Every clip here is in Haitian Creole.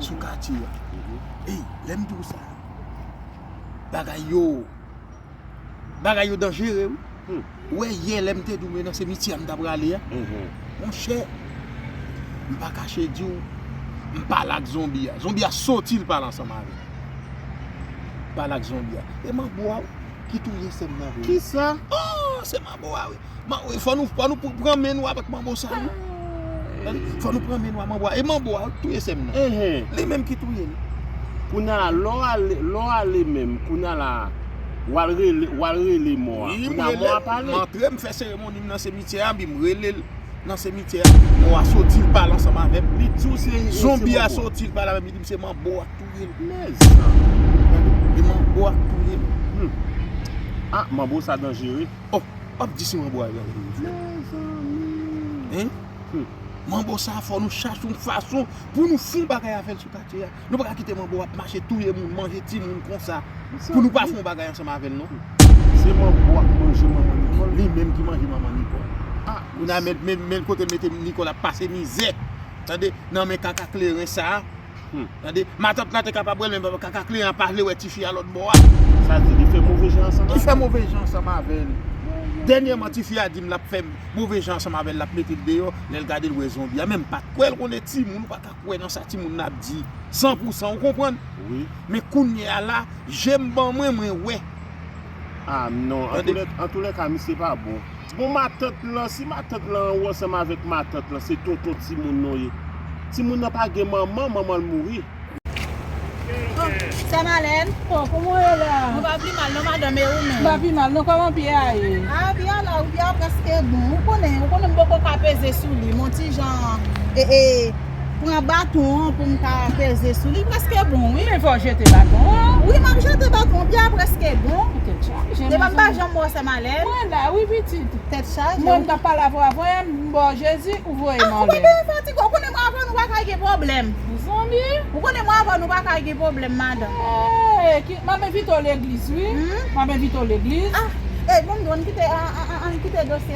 sou katye a. Ey, lè m di w sa, bagay yo, bagay yo danjere wi. Ou wè yè lè m te di w e nan semityè a m ta prale a, monchè, m pa kache di w, m pale ak zonbi a. Zonbi a soti l pale ansanm avè m. M pale ak zonbi a. E manbo a wi ki touye sè m nan vre wi. Kisa? Oh, se manbo a wi. Fò nou pran men nou avèk manbo sa wi. Fò nou pran men nou avèk manbo a. E manbo a ou t touye sèm nan. Li menm ki touye l. Kounya lò ale menm kounya la wal rele mò a. Kounya mò a pale. M antre m fè seremoni m nan semityè a bi m rele l nan semityè a. Mò a soti l pale ansanm avèm. Li di w se manbo a. Zonbi a soti l pale avèm li di m se manbo a k touye l. Mèzanmi. E manbo a k touye l. A manbo sa danjere. Oh wap di se manbo a yal rele frè. Mezanmi. Hum. Manbo sa fò nou chache yon fason pou nou fon bagay avèl sou katye a. Nou paka kite manbo ap mache touye moun, manje timoun konsa pou nou pa fon bagay ansanm avèl non. Se manbo a ki manje manman Nicole. Li menm ki manje manman Nicole. Ah. Kounye a men kotel mete Nicole ap pase mizè. Tande nan men kaka kleren sa. Tande, matant la te kapab wè l men kaka kliyan an pa vle wè tifi a lòt bò a. Sa di li fè move jan ansanm avè l? Li fè move jan ansanm avè l. Dènyèman tifi a di m l ap fè move jan ansanm avè l, l ap mete l deyò, lè l gade l wè zonbi a. Men m pa t kwè l konnen timoun, ou pa ka kwè nan sa timoun nan ap di san pou san ou konprann. Men kounyea la, je m ban mwen, mwen wè. Ah non, antoulèka misye pa bon. Bon matant lan, si matant lan an ou ansanm avèk matant lan, se tonton timoun nou ye. Timoun nan pa gen manman, manman l mouri. Sa Malèn? Bon, kouman ou ye la? Mwen pa pi mal non madanm, e ou menm? Mwen pa pi mal non, kòman pye a ye? Ah, pye a la wi, pye a prèske bon. Ou konnen, ou konnen m poko ka peze sou li, m on ti jan, e e. Pran baton an pou m ka peze sou li preske bon wi. Men fòw jete baton an. Wi map jete baton an pye a preske bon. Ou tèt chaje mezanmi. Epa m pa janm wè w fèm alèz. Mwen la wi pitit. Tèt chaje. Mwen m tap pale avè w avan yè m baw jezi ou voye m anlè. A ou pa bezwen fatige ou konnen mwen avè w nou paka gen pwoblèm. Mezanmi. Ou konnen mwen avè w nou paka gen pwoblèm madanm. Eee map envite w legliz wi. Map envite w legliz. Ah e bon m di w ann kite dosye sa.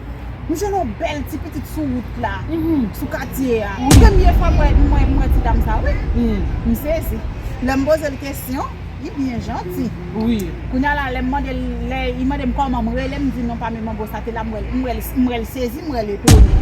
M jwenn yon bèl ti pitit sou wout la, sou katye a. Premye fwa mwen wè ti dam sa wi. M sezi. Lè m poze l kesyon, li byen janti. Kounya la lè m mande l, lè li mande m kòman m rele, m di non pa m e Manbo sa te la. M wè l sezi, m wè l etone.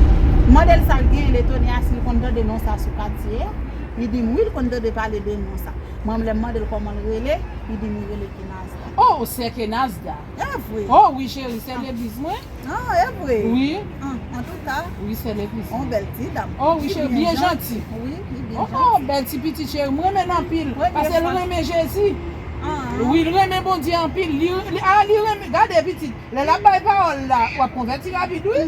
M mande l sa l genyen, l etone a si l konn tande non sa sou katye a. Li di m wi, l konn tande pale de non sa. Mwen menm lè m mande l kòman l rele, li di m li rele Kenazda. O! Sè Kenazda. Evre. Oh wi cheri sè Devis mwen. Ah evre. Wi. Ah antouka. Wi sè Devis. On bèl ti dam. Oh wi cheri byen janti. Wi li byen janti. Oh bèl ti pitit cheri mwen renmen l anpil. Premye fwa. Pasel renmen Jezi. Ah. Wi li renmen Bondye anpil. Li ah li renmen gade pitit lè lap bay pawòl la wap konvèti rapid wi.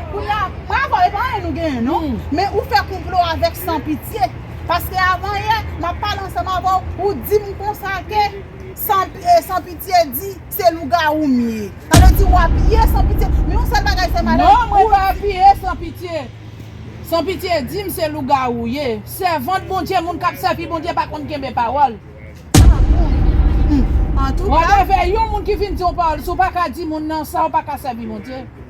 Kounya bravo epa anyen nou genyen non men ou fè konplo avèk san pitye paske avan yè map pale ansanm avèw ou dim konsa ke san pitye di se lougawou m ye sa vle di ou apiye san pitye men yon sèl bagay sèm Alex non mwen pa apiye san pitye san pitye dim se lougawou w ye sèvant Bondye moun kap sèvi Bondye pa konn kenbe pawòl wap avè yon moun ki vin diw pawòl si w paka di moun nan sa w paka sèvi Bondye.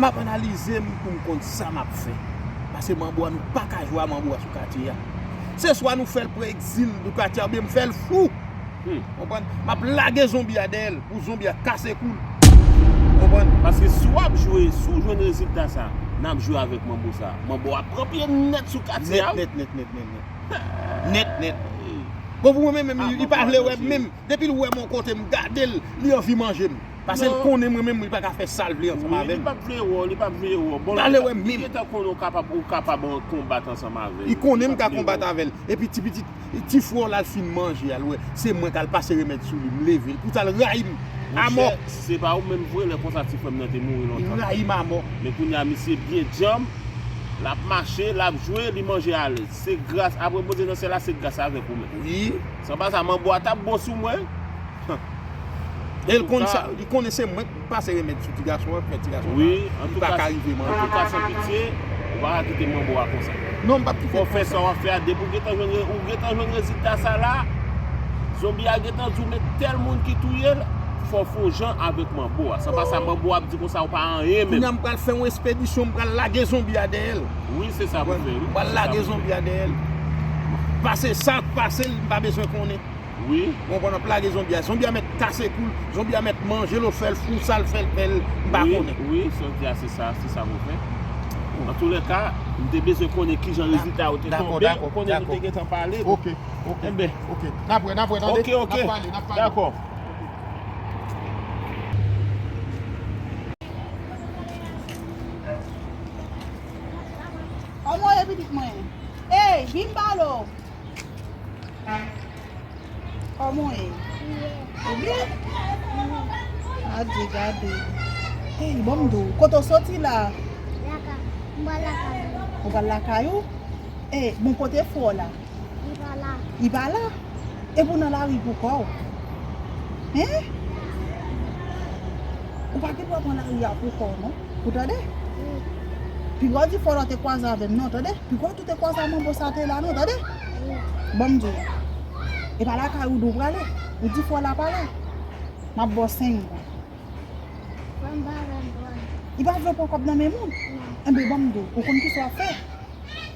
Map analize m pou m konn sa map fè. Pase manbo a nou paka jwe a manbo a sou katye a. Se swa nou fèl pran egzil nou katye a oubyen m fèl fou. Konprann? Map lage zonbi a dèyèl pou zonbi a kase koul. Konprann? Pase si wap jwe, si w jwenn rezilta sa, nap jwe avèk manbo sa. Manbo a pran pye nèt sou katye a wi. Nèt nèt nèt nèt nèt. Nèt nèt. Bon pou mwen menm li pa vle wè m menm. Depil wèm yon kote m gadel li anvi manjem pasel konnenm mwen menm li paka fè sal vle ansanm avèm. Wi li pap vle wèw li pap vle wèw bon li gentan konnen ou kapab ou kapab konbat ansanm avèl. Li konnenm ka konbat avèl epi ti pitit ti fwè w la al fin manje al wè se mwen kal pase remèd souli m level pou sal rayim amò. Monchè si se pa ou menm vre lè konsa ti fwèm nan te mouri lontan. Li rayim amò. Men kounya misye byen djanm lap mache lap jwe li manje alèz se gras aprè Bondye nan syèl la se gras avèk ou menm. Wi. San pa sa manbo a tap bon sou mwen humm El konn sa li konnen se mwenk pase remed sou ti gason an fè ti gason sa li paka rive manje. Antouka san pitye ou paka kite manbo a konsa. Non m pap kite konsa. Fò fè sa wap fè a depi ou gentan jwenn rezilta ou gentan jwenn rezilta sa la zonbi a gentan di w men tèl moun ki touye l fò w fè yon jan avèk manbo a san pa sa manbo a ap di konsa ou pa anyen menm. Kounya m pral fè yon espedisyon m pral lage zonbi a dèyè l. Wi se sa pou fè wi. Wal lage zonbi a dèyèl. Pase sak pasel m pa bezwen konnen. Wi. Ou konprann wap lage zonbi a. Zonbi a mèt kase koul. Zonbi a mèt manjel ou fèl fou sal fèl fèl m pa konnen. Wi wi sa w di a se sa se sa pou fè. An tou lè ka m te bezwen konnen kijan rezilta yo te tonbe. Dakò dakò. Konnen nou te gentan pale. Ok ok. Enben. Ok. Nap wè nap wè tande. Ok ok. Nap pale nap pale. Dakò. Omo ye pitit mwen. Ey vin balo. Omo ye. Ou byen? Adye gade. Ey bom do. Koto soti la. Laka. Mba laka. Ou bal laka yo? Ey bon kote fo la. Li pa la. Li pa la? Epi ou nan lari pou kò ou. Hein? Ou pa gen dwa pran lari a pou kò ou non. Ou tande? Wi. Pi gwo difòl ou te kwaze avè m non, tande? Pi gwo tou te kwaze a manbo sa te la non, tande? Wi. Ban m di ou. E pa lakay ou di ou prale. Ou difòl la pa la. M ap ba w 5 goud. Ban m ba w 20 goud. Li pa vle ou pran kòb nan men moun? Non. Enben ban m di ou. Ou konn kisa w ap fè?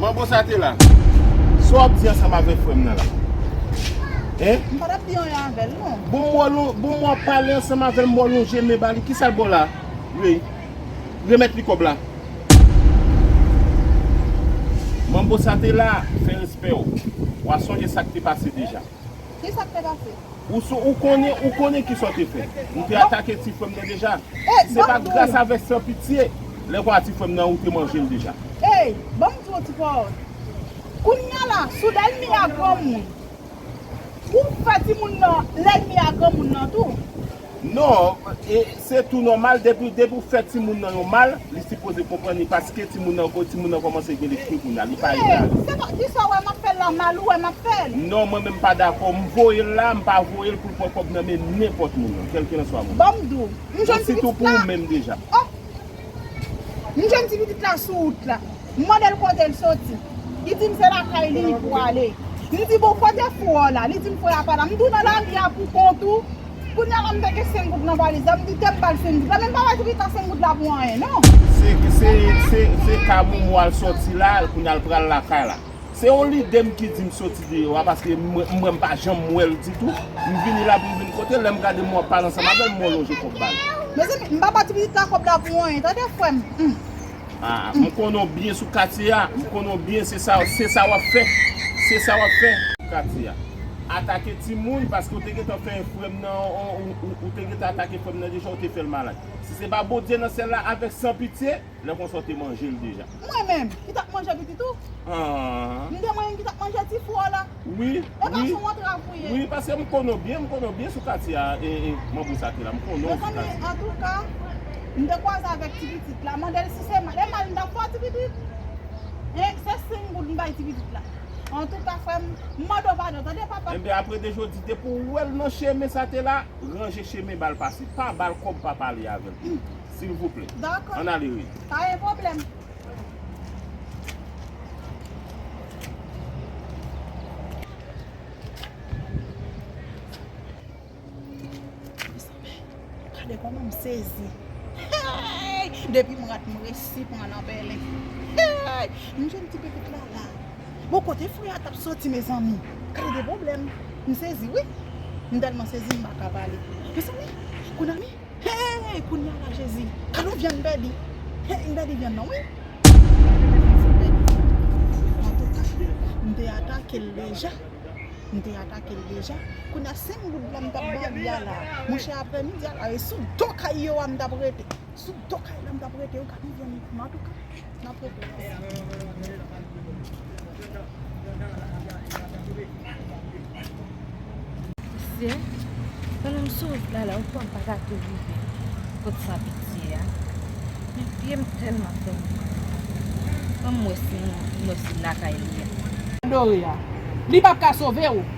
Manbo sa te la. Sa wap di ansanm avèk frè m nan la? Hein? M pa tap di anyen avè l non. Bon m wè l ou, bon m wè w pale ansanm avè l, m wè w lonje men ba li. Kisa l ba w la? Rey, remèt li kòb la. Manbo sa te la, fè respè w. Wa sonje sa k te pase deja. Ki sa k te pase? Ou sou ou konnen ou konnen ki sa w te fè. Ou te atake ti frè m nan deja. Ey, Se banm pa di w. gras a vès san pitye. Lè pa ti frè m nan ou te manje l deja. Ey, banm di w ti pawòl. Kounya la, sou lènmi a granmoun. Ou fè timoun nan lènmi a granmoun nan tou. Non, e se tou nòmal depi depi ou fè timoun nan yon mal, li sipoze konprann li paske timoun nan ko timoun nan kòmanse gen lespri kounya, li pa Ee, egalè. se pa, kisa ou wè map fèl la, mal ou wè map fèl? Non mwen menm m pa dakò, m voyel la, m pa voyel poul pran kòb nan men nenpòt moun nan, kelkelanswa moun nan. Banm di w, yon Bon jèn fi sitou pou ou menm deja. Ohh. M jwenn ti pitit la sou wout la. M mande l kote l soti. Li di m se lakay li li pou ale. M di bon kote fou an la? Li di m fou an pa la. M di w nan lavi a pou kont ou. Kounye a la m te gen 5 goud nan valiz la. M di te m ba l 5 goud la. Men m pa bay Trika 5 goud la pou anyen non. Se ka momo al soti la kounye a l pral lakay la. Se yon lide m ki di m soti deyò a paske m wè m pa janm wè l ditou. M vini la pou m vin kote l, lè m gade m wè w pale ansanm avè l, m wè w lonje kòb ba l. Mezanmi, m pa ba ti pitit la kòb la pou anyen tande frè m. Humm. Aa, m konnen w byen sou katye a, m konnen w byen se sa w ap fè, se sa w ap fè. Katye a. Atake timoun paske w te gentan fè frè m nan, ou te gentan atake frè m nan deja, ou te fè l malad. Si se pa Bondye nan syèl la avèk san pitye. Lè konsa w te manje l deja. Mwen menm, ki t ap manje pitit ou? M te mwen menm ki t ap manje ti fou w la? Wi, wi. Epa s on antrav ou ye? Wi, paske m konnen w byen, m konnen w byen sou katye a, Manbo sa te la. M konnen w sou katye. Mezanmi, antouka, m te kwaze avèk ti pitit la. Mande l si se mal. E mal m t ap fè w ti pitit? Hein? Se 5 goud m bay ti pitit la. Antouka frè m, m mande w padon tande papa. Enben, apre de jodi, depi w wè l nan chemen sa te la, ranje chemen ba l pase. Pa ba l kòb pa pale avè l. silvouplè. Dako. An ale wi. Pa gen pwoblèm. Gade kòman m sezi. Hey! Depi m rat m resi pran nan pèlen. Hey! M jwenn ti pepit la la. Bon kote frè a tap soti mezanmi? Gade de pwoblèm. M sezi wi. M tèlman sezi m pa ka pale. Mezanmi! Kounya. Hey kounya la jezi. Alon vyann bèbi. Hey m pèdi vyann nan wi. Antouka m te atake l deja. M te atake l deja. Kounya 5 goud la m tap ba li a la. Monchè aprè midi a la e sou do kay yo a m tap rete. Sou do kay la m tap rete. Ou gade yon vyann li. Antouka. Nan pran plas li. Siye, pandan m sou wout la la, yon fwa m pa ta tou rive kot san pitye a. Men pye m tèlman fè mal. Ban m wè si m wè si lakay li a. Dore a. Li pap ka sove ou.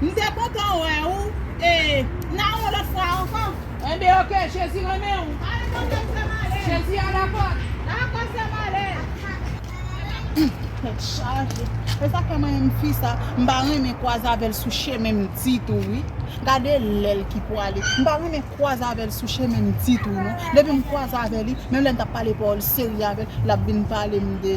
M te kontan wè ou e nan yon lòt fwa ankò. Enben ok, Jezi renmen ou. Ale tande m sè m ale. Jezi a lakòt. Dakò sè m ale. Humm tèt chaje esa fè mwen menm fi sa m pa renmen kwaze avèl sou chemen m ditou wi gade lèl ki pwale m pa renmen kwaze avèl sou chemen m ditou non depi m kwaze avè li menm lèm tap pale pawòl serye avèl lap vin pale m de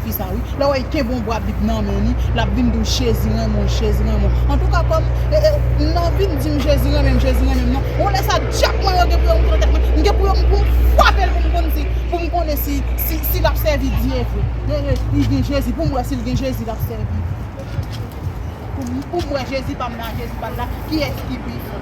fi sa wi lè wèy kenbe yon bwa bib nan men li lap vin diw jezi renmenw jezi renmenw antouka kòm m nan vin dim jezi renmenm jezi renmenm nan yon lè sa dyab mwen yo gen pou yo moute nan tèt mwen m gen pou yo m pou m fwapel pou m konn si pou m konnen si si lap sèvi dye vre ee li gen jezi pou m wè sil gen jezi lap sèvi pou m wè jezi pam nan a jezi pal la kiyès ki pi fò.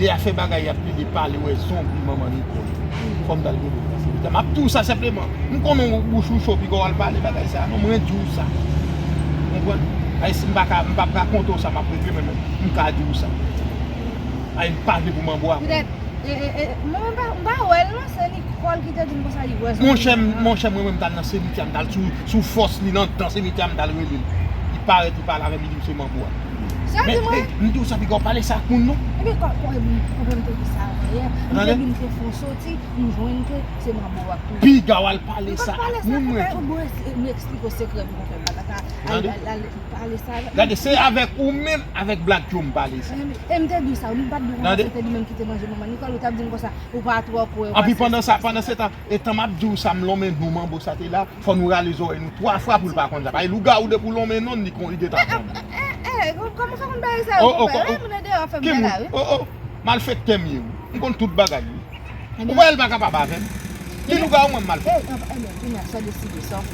Deya fè bagay yap lili pale wè zonbi manman Nicole fòm dal gade sa silvouplè map diw sa senpleman m konnen w bouch ou cho piga wal pale bagay sa non mwen diw sa ou konprann ay sim paka m pap rakonte w sa map regle men m ka diw sa ay m pa vle pou manbo a konnen mwen menm m pa wèl non se Nicole ki te dim konsa li wè zonbi monchè monchè mwen menm m tal nan semitya m tal sou fòs li nan dan semitya m tal relel li parèt li pale avèm li dim se manbo a. Sa di mwen? Men, m di w sa piga w pale sa ak moun non. E men kòm ou e moun ou menm te di sa avan yè, m te vin fè fon soti, m jwenn ke se manbo w ap toujou. Piga w al pale sa ak moun mwen di w. M pa pale sa ak moun, m eksplike w sekrè pou konfè blag la ka al pale sa avèk moun. Gade, se avèk ou menm, avèk Black Joe m pale sa. E m te di w sa, m pa t di w konsa se te li menm ki te manje manman Nicole, ou t ap di m konsa ou pa twò kwè w. Anpi pandan sa, pandan setan, Etan map diw sa m lonmen non manbo sa te la fò nou rale zòrèy nou 3 fwa poul pa konn sa paske lougawou depi w lonmen non li konn li gentan konn. Eehh kòman sa konn bagay sa yo konpè lè yon moun nan deyò ap fè bagay la wi. Oh oh malfektè m ye wi m konn tout bagay wi ou kwè l pa kapab avèm li lougawou mwen m malfektè.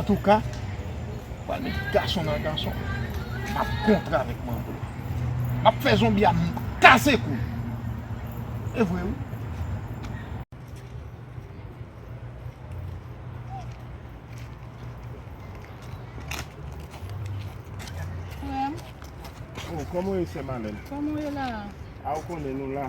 Antouka, pral met gason nan gason, map kontre avèk manbo a. Map fè zonbi a kase kou l. E vre wi. Frè m. O, kòman ou ye sè Malèn? Kòman ou ye la a? A ou konnen nou la.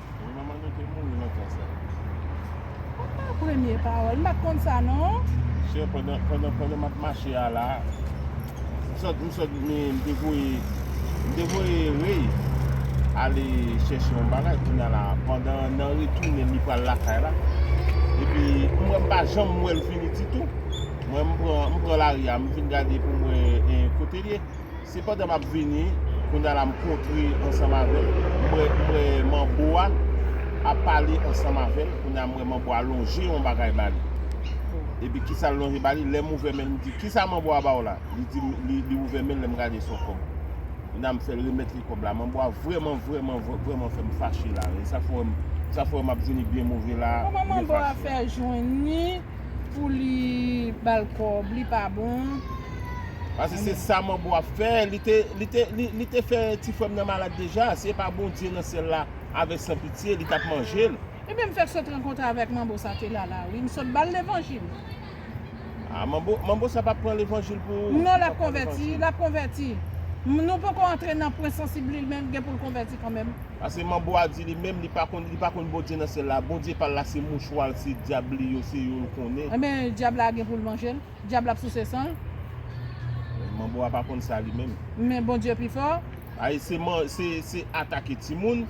Wi manman nou te mouri nan tan sa. Sa pa premye pawòl, m pat konn sa non. Chè pandan pandan pandan map mache a la m sot m sot me m te voye m te voye Rey ale chèche yon bagay kounya la pandan nan retounen li pral lakay la epi m wè m pa janm wèl vini ditou mwen m pran m pran lari a m vin gade pou m wè kotel ye. Se pandan map vini, kounye a la m kontre ansanm avèl, m wè m wè manbo a ap pale ansanm avèl, kounye a m wè manbo a lonje yon bagay ba li. Epi kisa l lonje ba li, lè m ouvè men l m di kisa manbo a ba w la? Li di m li ouvè men l lè m gade se yon kòb. Kounye a m fè l remèt li kòb la. Manbo a vrèman vrèman vrèman fè m fache la. E sa fè w wè m sa fè w wè m ap vini byen move la, byen fache. Kòman manbo a fè jwenn li? Pou li bal kob li pa bon. Pase se sa manbo ap fè, li te fè ti frèm nan malad deja, si e pa Bondye nan syèl la avè san pitye li tap manjel. Ebyen mfèk sot rankontre avèk manbo sa te lala wi msot bal levanjil. Ah manbo manbo sa pap pran levanjil pou ou. Non lap konvèti lap konvèti. Nou poko antre nan pwen sansib li men gen poul konvèti kanmenm. Pase manbo a di li menm li pa konn li pa konn Bondye nan syèl la Bondye pal la se mouchwa l se dyab li yo se yo l konnen. Enben dyab la gen poul manje l? Dyab la ap souse san l? Manbo a pa konn sa li menm. Men Bondye pi fò. Ay se man se se atake timoun,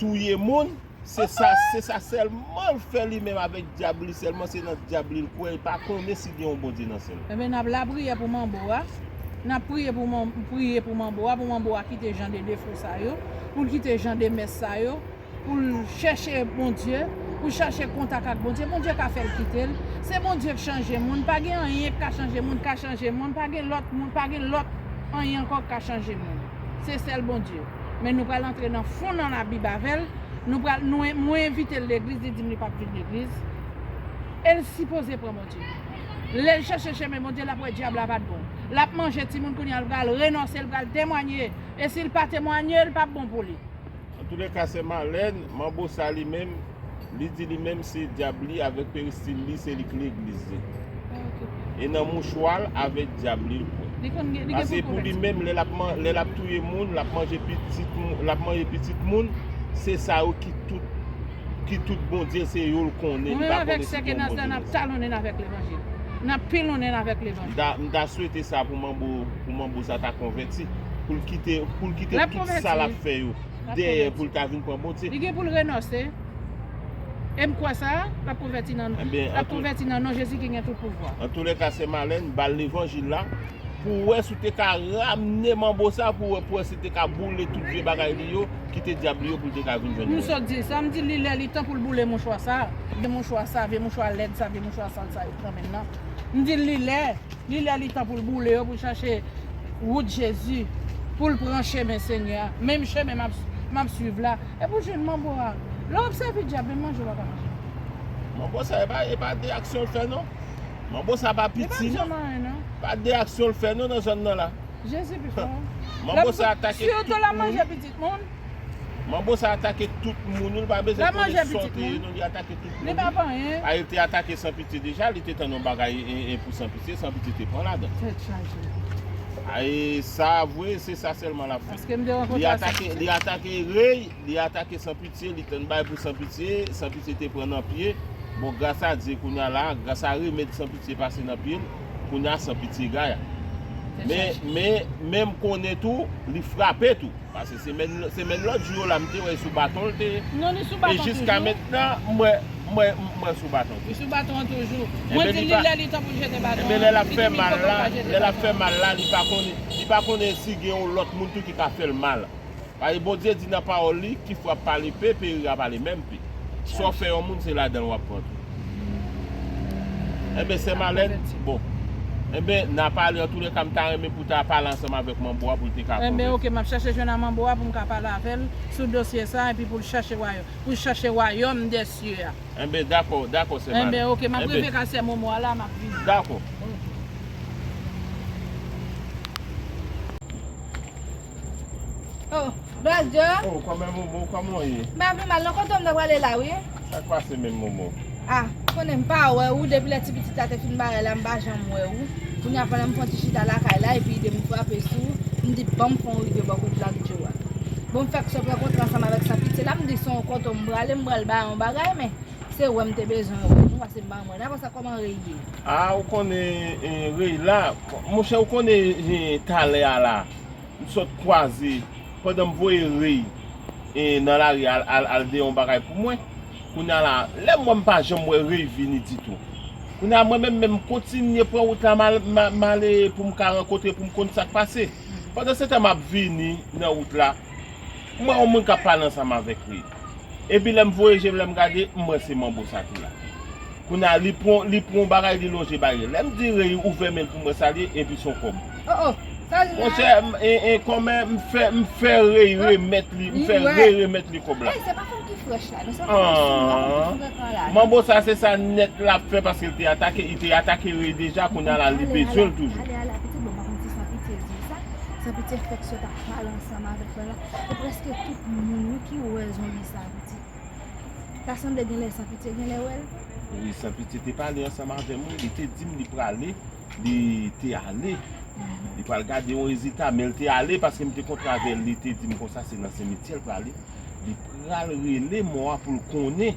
touye moun. Se sa, se sa sèlman l fè li menm avèk dyab li sèlman se nan dyab li l kwè li pa konnen si gen yon Bondye nan syèl la. Ebyen nap lapriyè pou manbo a, nap priye pou man, priye pou manbo a pou manbo a kite jan de defo sa yo, pou l kite jan de mès sa yo, pou l chèche Bondye, pou l chache kontak ak Bondye, Bondye ka fè l kite l, se Bondye k chanje moun, pa gen anyen k ka chanje moun, k ka chanje moun, pa gen lòt moun, pa gen lòt anyen ankò k ka chanje moun. se sèl Bondye men nou pral antre nan fon nan labib avèl nou pral nou mwen envitel legliz li dim li pap vin legliz el sipoze pran Bondye lel chèche chemen Bondye lap wè dyab la pat bon lap manje timoun kounya li pral renonse li pral temwanye esil pa temwanye li pap bon pou li. Antoulèka sè Malèn, manbo sa li menm Li di li menm se dyab li avèk peristil li se li ki legliz li. E nan mouchwa l avèk dyab li l kwè. Pase pou li menm lè l ap touye moun, l ap manje pitit moun, se sa yo ki tout ki tout bondye l se yo l konnen. Mwen menm avèk sè Kenansda n ap talonnen avèk levanjil. N ap pilonnen avèk levanjil. M ta swete sa pou manbo sa ta konvèti pou l kite tout sa l ap fè yo. dèyè pou l ka vin pran Bondye. Li gen pou l renonse. E m kwè sa, l ap konvèti nan l ap konvèti nan non Jezi ki gen tout pouvwa. Antoulèka sè Malèn ba l levanjil la pou w wè si w te ka ramne manbo sa pou w wè pou w wè si l te ka boule tout vye bagay li yo ki te dyab li yo pou l te ka vin jwenn mwen. M sot di l sa, m di l li lè li tan pou l boule mouchwa sa, vye mouchwa sa, vye mouchwa lèd sa, vye mouchwa sal sa yo k nan men l lan. M di l li lè. Li lè li tan poul boule yo poul chache wout jezi poul pran chemen senyè a menm chemen map swiv la e poul jwenn manbo a lè wap sèvi dyab menm manje wap ka manje. Manbo sa epa de aksyon l fè non manbo sa pa piti non pa de aksyon l fè non nan zòn nan la manbo sa atake tout moun. pitit moun. Manbo sa atake tout moun wi li pa bezwen konnen sòt li ye non li atake tout moun wi a li te atake san pitye deja li te tann yon bagay pou san pitye san pitye te pran ladan a e sa vre se sa sèlman lap fè li atake li atake rey li atake san pitye li tann bagay pou san pitye san pitye te pran nan pye bon gras a Dye kounya la gras a remèd san pitye pase nan pye l. kounya san pitye gaya men men men m konnen tou li frape tou pase semèn semèn lòt jou yo la m te wè sou baton l te non li sou baton toujou e jiska mentnan m wè m wè m wè l sou baton toujou li sou baton an toujou mwen di li lè li tan pou l jete baton an lè l ap fè mal la lè l ap fè mal la li pa konnen li pa konnen si gen yon lòt moun tou ki ka fè l mal. Paske Bondye di nan pawòl li ki frap pa lepe pe rira pa le menm pe sa w fè yon moun se ladan l wap pran tou enben sè Malèn bon enben na pale antoulèka m ta renmen pou ta pale ansanm avèk manbo a pou l te ka konvèti. Enben ok map chache jwenn a manbo a pou m ka pale avè l sou dosye sa epi pou l chache wayò pou l chache wayòm dè sye a. Enben dakò dakò sè Malèn enben. Enben ok map rive ka sè Momo a la map vini. Dakò. Oh, Braz Djo? Oh, kòmè Momo, kòman ou ye? M pa pi mal non, kote ou m ta prale la ou ye? Sa k pase menm Momo? Ah, konnen m pa wè ou depi lè ti pitit la te fin barè la m pa janm wè ou. Kounye a pandan m fon ti chita lakay la epi ide m frape sou, m di ban m fon w rive bò kot Black Djo a. Bon m fè kso pran kontre ansanm avèk San Pitye la, m di se yon kote m prale m pral ba yon bagay men se wè m te bezwen wè, nou pase ban mwen. Apre sa kòman Rey ye? Ah, ou konnen Rey la, monchè ou konnen talè a la. m sot kwaze pandan m voye rei nan lari al de yon bagay pou mwen kounya la lè m wè m pa janm wè rei vini ditou kounya la mwen menm men m kontinye pran wout la m ale pou m ka rankontre pou m konn sa k pase pandan se tan m ap vini nan wout la m wè yon moun k ap pale ansanm avèk rei. Epi lèm voye jem lèm gade m wè se manbo sa ki la. Kounye a li pran li pran yon bagay li lonje bali. Lèm di Rey ouvè menl poum wè sa li ye epi son kòb. Oh oh sa li la? Monchè m en kòmè m fè m fè Rey remèt li m fè Rey remèt li kòb la. Rey se pa fanm ki frèch la non se pa fanm ki sou la fanm ki frekan la non. Manbo sa se sa nèt lap fè paske li te atake li te atake Rey deja kounye a la li bezwenl toujou. Ale ale ale ale pitit bon pa konn kisa Pitye di sa sa Pitye fèk sot ap pale ansanm avèk frè la. Se preske tout moun wi ki wè zonbi sa pitit. Ta sanble genlè sanpitye genlè wèl. Wi sanpitye te pale ansanm avèm wi li te dim li prale li te ale li pral gade yon rezita menl te ale paskem te kontre avèl li te dim konsa se nan semityèl prale li pral rele mò a poul konnen.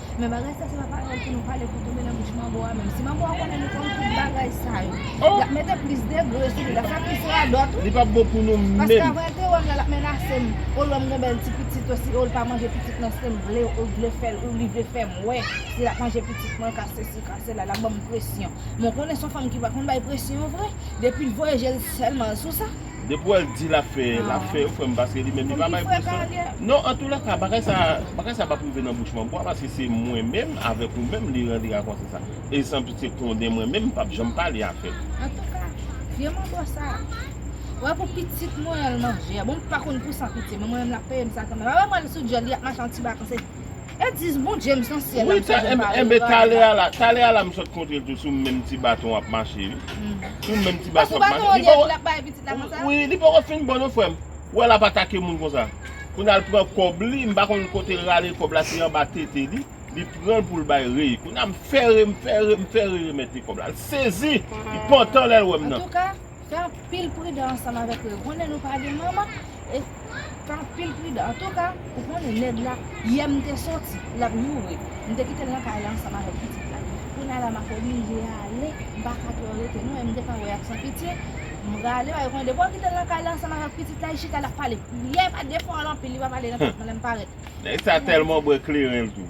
Men bagay sa se pa paròl pou nou pale pou tonbe nan bouch manbo a menm. Si manbo a konnen nou konn tout bagay sa yo. Oh! Lap mete plis degre sou li, lap fè plis radòt wi. Li pap bon pou nou menm. Paske avan te wèm la lap menasem, oh lèm gon bèl ti pitit oh si oh li pa manje pitit nan sem vle ou vle fèl ou li vle fèm wè si lap manje pitit mwen ka sesi ka sela lap banm presyon. Men w konnen son fanm ki pa konn bay presyon vre, depi l voye jel sèlman sou sa. Depi wè l di lap fè, lap fè wi frè m paske li menm li pa bay presyon. Non antoulèka bagay sa bagay sa pap rive nan bouch mwen bwa paske se mwen menm avèk ou menm li rantre ak yon se sa. E san pitye konnen mwen menm m pap janm pale avè l. Antouka vye manbo sa wè pou pitit mwen an l manje a bon m pa konn pou san pitye men mwen menm lap peye m sa kanmenm. Apa mwen wè l sou dyòl li ap mache an ti baton se. E dis bon James nan syèl la misye jwenn pale Enben talè a la, talè a la m sot kontre l tou sou menm ti baton ap mache wi Sou menm ti baton ap mache Li poko Wi li poko fin bon non frè m Ou wè l ap atake moun konsa Kounye a l pran kòb li m pa konn kote l rale kòb la se anba tete li Li pran l pou l bay Rey Kounye a m fè Rey m fè Rey m fè Rey remèt li kòb la L sezi Li pantan lè l wè m nan Antouka Fè anpil pridan ansanm avèk yo. Ou konnen nou pa gen manman e fè anpil pridan. Antouka, ou konnen nèg la, yè m te soti, l ap joure. M te kite l nan kay la ansanm avèk pitit la. Kounya la m ap oblije ale, m pa ka twò rete non e m te ka wè y ap san pitye. M rale paske ou konnen depi w kite l nan kay la ansanm avèk pitit la, li chita l ap pale. Yè pa defò l anpil, li pa pale nan tèt mwen lè m parèt. Nèg sa tèlman bwè kleren l tou.